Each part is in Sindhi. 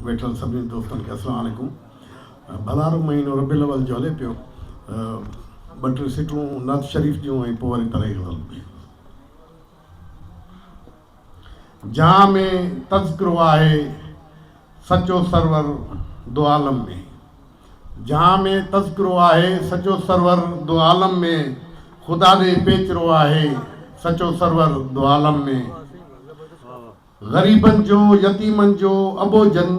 ويٺل سڀني دوستن کي السلام عليڪم ڀلارو مهينو ربيع الاول جو هلي پيو ٻه ٽي سٽون نعت شريف جون ۽ پوء وري پرائي غزل ۾ جهان ۾ تذڪرو آهي سچو سرور دو عالم ۾ جهان ۾ تذڪرو آهي سچو سرور دو عالم ۾ خدا ڏي پيچرو آهي سچو سرور دو عالم ۾ غريبن جو، يتيمن جو، اٻوجهن،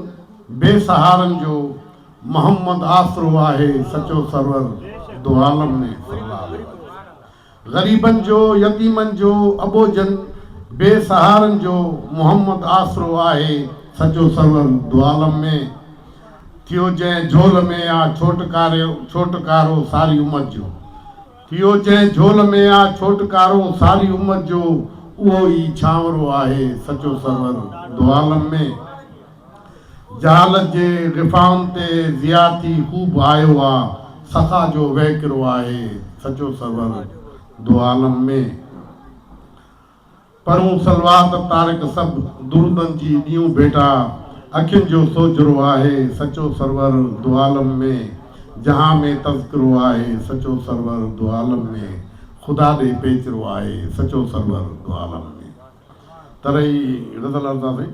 بي سهارن جو محمد آسرو آهي سچو سرور دوعالم ۾، صلّي اللّٰه عليه وآله. غريبن جو، يتيمن جو، اٻوجهن، بي سهارن جو محمد آسرو آهي سچو سرور دوعالم ۾، ٿيو جنهن جهول ۾ آ ڇوٽڪارو ساري امت جو. اهو جنهن جهول ۾ آ ڇوٽڪارون ساري امت جو اهو ئي ڇانورو آهي سچو سرور دوعالم ۾ جهالت جي غفائن تي ضياء ٿي خوب آيو آ سخا جو وهڪرو آهي سچو سرور دوعالم ۾. پرون صلوات طارق سڀ درودن جي ڏيون ڀيٽا اکين جو سوجهرو آهي سچو سرور دوعالم ۾ جهان ۾ تذڪرو آهي سچو سرور دوعالم ۾ خدا ڏي پيچرو آهي سچو سرور دوعالم ۾ تري غزل ارزا سائين.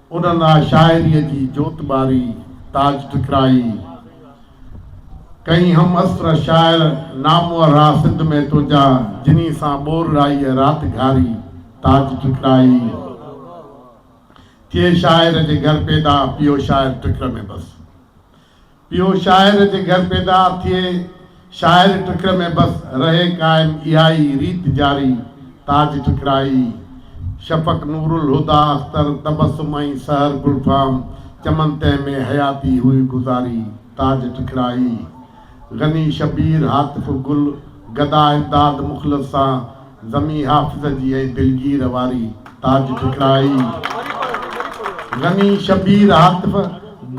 انهن لاء شاعريء جي جوت ٻاري، تاج ٺڪرائي، ڪئين هم عصر شاعر نامورها سنڌ ۾ تنهنجا جني سان ٻور رائيء رات گهاري، تاج ٺڪرائي، ٿئي شاعر جي گهر پيدا پيو شاعر ٽڪر ۾ بس پيو شاعر جي گهر پيدا ٿئي شاعر ٽڪر ۾ بس رهي قائم اها ئي ريت جاري تاج ٽڪرائي شفق نور الهديٰ اختر تبسم ۽ سحر گلفام چمن تنهن ۾ حياتي هئي گذاري تاج ٽڪرائي غني شبير هاتف گل گدا امداد مخلص سان زمين حافظ جي ۽ دلگير واري تاج ٺڪرائي، غني شبير هاتف،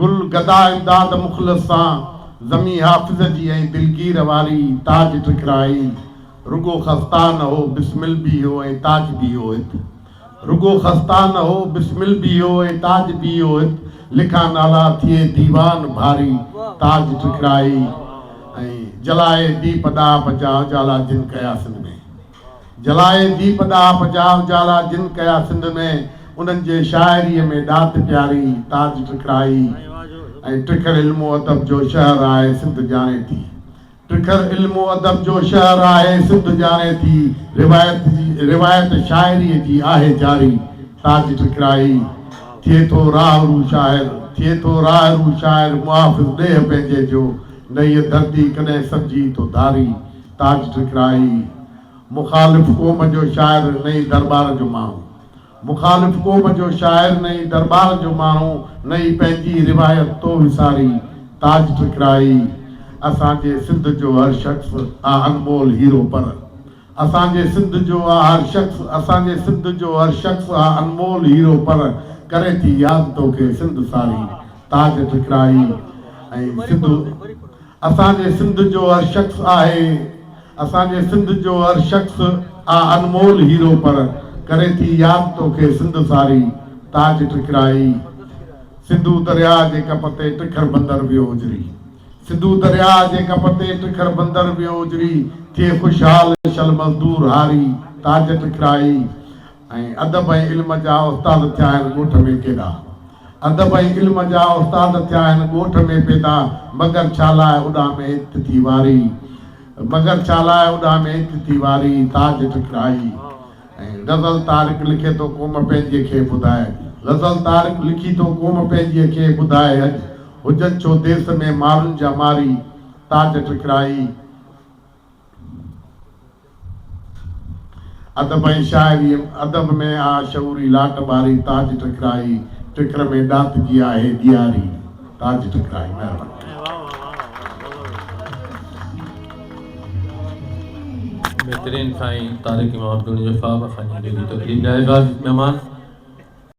گل گدا امداد مخلص سان زمين حافظ جي ۽ دلگير واري تاج ٺڪرائي، رڳو خستا نه هو بسمل به هو ۽ تاج به هو هت. رڳو خستا نه هو، بسمل به هو ۽ تاج به هو. هت لکا نالا ٿئي ديوان ڀاري، تاج ٽکڙائي ۽ جلائي ديپ ڏاهه پچاء جالا جن ڪيا سنڌ ۾. جلائي ديپ ڏاهه پچاء جالا جن ڪيا سنڌ ۾، انهن جي شاعريء ۾ ڏات پياري، تاج ٽکڙائي ۽ ٽکڙ علم و ادب جو شهر آهي، سنڌ ڄاڻي ٿي. ٽکڙ علم و ادب جو شهر آهي سنڌ ڄاڻي ٿي روايت جي روايت شاعري جي آهي جاري تاج ٽکڙائي ٿئي ٿو راهه رو شاعر ٿئي ٿو راهه رو شاعر محافظ ڏيهه پنهنجي جو نه هيء ڌرتي ڪڏهن سڏجي ٿو ڌاري تاج ٽکڙائي مخالف قوم جو شاعر نه ئي درٻار جو ماڻهو مخالف قوم جو شاعر نه ئي درٻار جو ماڻهو نه ئي پنهنجي روايت تو وساري تاج ٺڪرائي اسان جي سنڌ جو هر شخص آ انمول هيرو پر اسان جي سنڌ جو آ هر شخص اسان جي سنڌ جو هر شخص آ انمول هيرو پر ڪري ٿي ياد توکي سنڌ ساري تاج ٺڪرائي ۽ سنڌ اسان جي سنڌ جو هر شخص آهي اسان جي سنڌ جو هر شخص آ انمول هيرو پڻ ڪري ٿي ياد توکي سنڌ ساري تاج ٽھڪرائي سنڌو درياء جي ڪپ تي ٽکر بندر ويو اجري سنڌو درياء جي ڪپ تي ٽکر بندر ويو اجري ٿئي خوشحال شل مزدور هاري تاج ٽھڪرائي ۽ ادب ۽ علم جا استاد ٿيا آهن ڳوٺ ۾ ڪيڏا ادب ۽ علم جا استاد ٿيا آهن ڳوٺ ۾ پيدا مگر ڇالاء اڏا ۾ عزت ٿي واري مگر ڇالاء اڏا ۾ عزت ٿي واري تاج ٽڪرائي ۽ غزل طارق لکي ٿو قوم پنهنجي کي ٻڌاء غزل طارق لکي ٿو قوم پنهنجي کي ٻڌاء اڄ هجن ڇو ديس ۾ مارن جا ماري تاج ٽڪرائي ادب ۽ شاعريء ادب ۾ آ شعوري لاٽ ٻاري تاج ٽڪرائي ٽڪر ۾ ڏات جي آهي ڏياري تاج ٽڪرائي مهرباني.